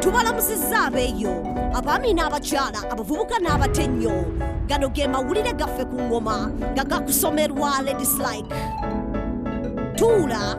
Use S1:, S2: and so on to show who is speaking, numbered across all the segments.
S1: tubalamusizza abeeyo abaami n'abakyala abavubuka n'abate nnyo gano ge mawulire gaffe ku ngoma nga gakusomerwa ladislike tuula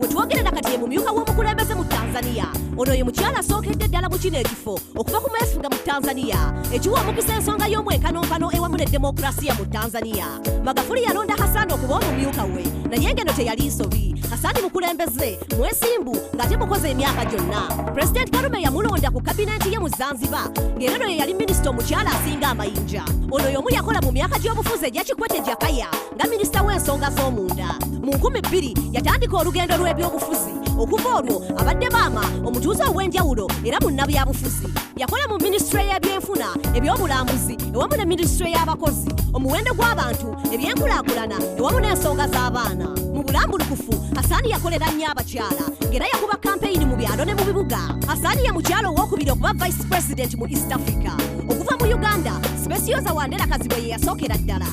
S1: wetwogerera kati ye mumyuka w'omukulembeze mu tanzania ono ye mukyala asookedde ddala mu kino ekifo okuva ku mwefuga mu tanzania ekiwa omukisa ensonga y'omwenkanonkano ewamu ne demokulasiya mu tanzania magafuli yalonda hasani okuba omumyuka we naye ngeno teyali nsobi hasani mukulembeze mwesimbu ng'ate mukoze emyaka gyonna pulezidenti karume yamulonda ku kabineeti ye mu zanzibar ng'era no ye yali minisita omukyala asinga amayinja ono y'omu yakola mu myaka gy'obufuzi egyakikwete jakaya nga minisita w'ensonga z'omunda mu nkumi bbiri yatandika olugendo lw'ebyobufuzi okuva olwo abadde maama omutuuze ow'enjawulo era munnabyabufuzi yakola mu minisitule y'ebyenfuna ebyobulambuzi ewamu ne minisitule y'abakozi omuwendo gw'abantu ebyenkulaakulana ewamu n'ensonga z'abaana mu bulambulukufu asaani yakolera nnyo abakyala ng'era yakuba kampeyini mu byalo ne mu bibuga asaani ye mukyalo ow'okubiri okuba vice president mu east africa okuva mu uganda specioza wandera kazibwe ye yasookera ddala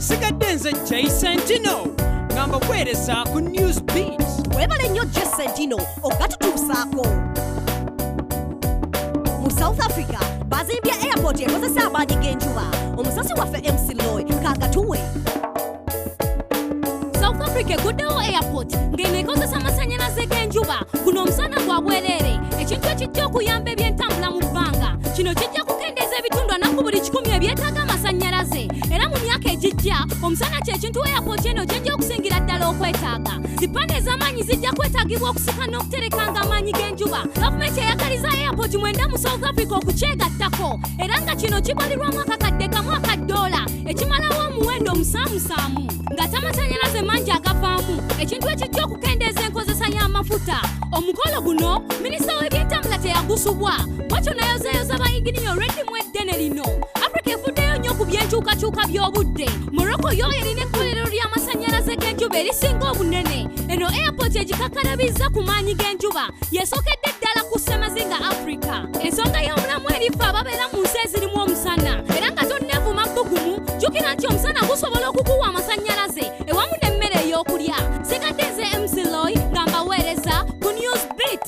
S2: sigadde nze jay sentino nga mbaweereza ku news beat webale nnyo je
S1: sentino okugatutuusaako mu south africa bazimbye airport ekozesa amaanyi g'enjuba omusasi waffe mc loy kagatuwe
S3: south africa eguddewo airport ng'eno ekozesa amasannyalaze g'enjuba guno omusana gwa bwereere ekintu ekijja okuyamba ebyentambula mu bbanga kino kijja kuke Endeza ebitundu anaku buli kikumi ebyetaaga amasannyalaze era mu myaka egijja omusana kyekintu we yapooti eno gyejja okusingira ddala okwetaaga zipande ez'amaanyi zijja kwetaagibwa okusika n'okuterekanga amaanyi g'enjuba gavumenti eyagaliza eyapooti mwenda mu south africa okukyegattako era nga kino kibalirwamu akakadde kamu aka ddoola ekimalawo omuwendo omusaamusaamu nga tamasanyalaze mangi agavaamu ekintu ekijja okukendeeza enkozesa y'amafuta omukolo guno minisita w'ebyentambula teyagusubwa bwatyo nayozayoza bayinginiya olw'eddimu eddene lino afrika efuddeyo nnyo ku by'enkyukakyuka by'obudde morocco yo erina ekkolero ly'amasannyalaze g'enjuba erisinga obunene eno airport egikakkalabizza ku maanyi g'enjuba yesookedde ddala ku ssemazinga afrika ensonga y'omulamu erifa ababeera mu nsi ezirimu omusana era nga tonneevuma bbugumu jjukira nti omusana gusobola okukuwa amasannyalaze ewamu n'emmere ey'okulya sigadde nze mcloy nga mbaweereza ku news beat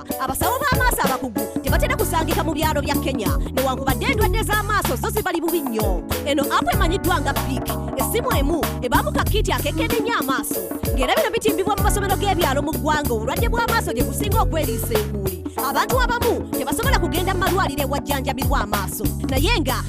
S1: abasawo b'amaaso abakugu tebatera kusangika mu byalo bya kenya newankubadde endwadde z'amaaso zo zibali bubi nnyo eno apu emanyiddwa nga pik essimu emu ebaamu kakiiti akekenenya amaaso ng'era bino bitimbibwa mu masomero g'ebyalo mu ggwanga obulwadde bw'amaaso gye businga okweriisa enkuuli abantu abamu tebasobola kugenda mu malwaliro ewajjanjabirwa amaaso naye nga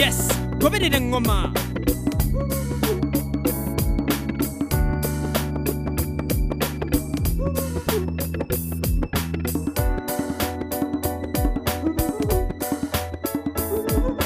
S1: yes
S2: goberera
S1: eŋŋoma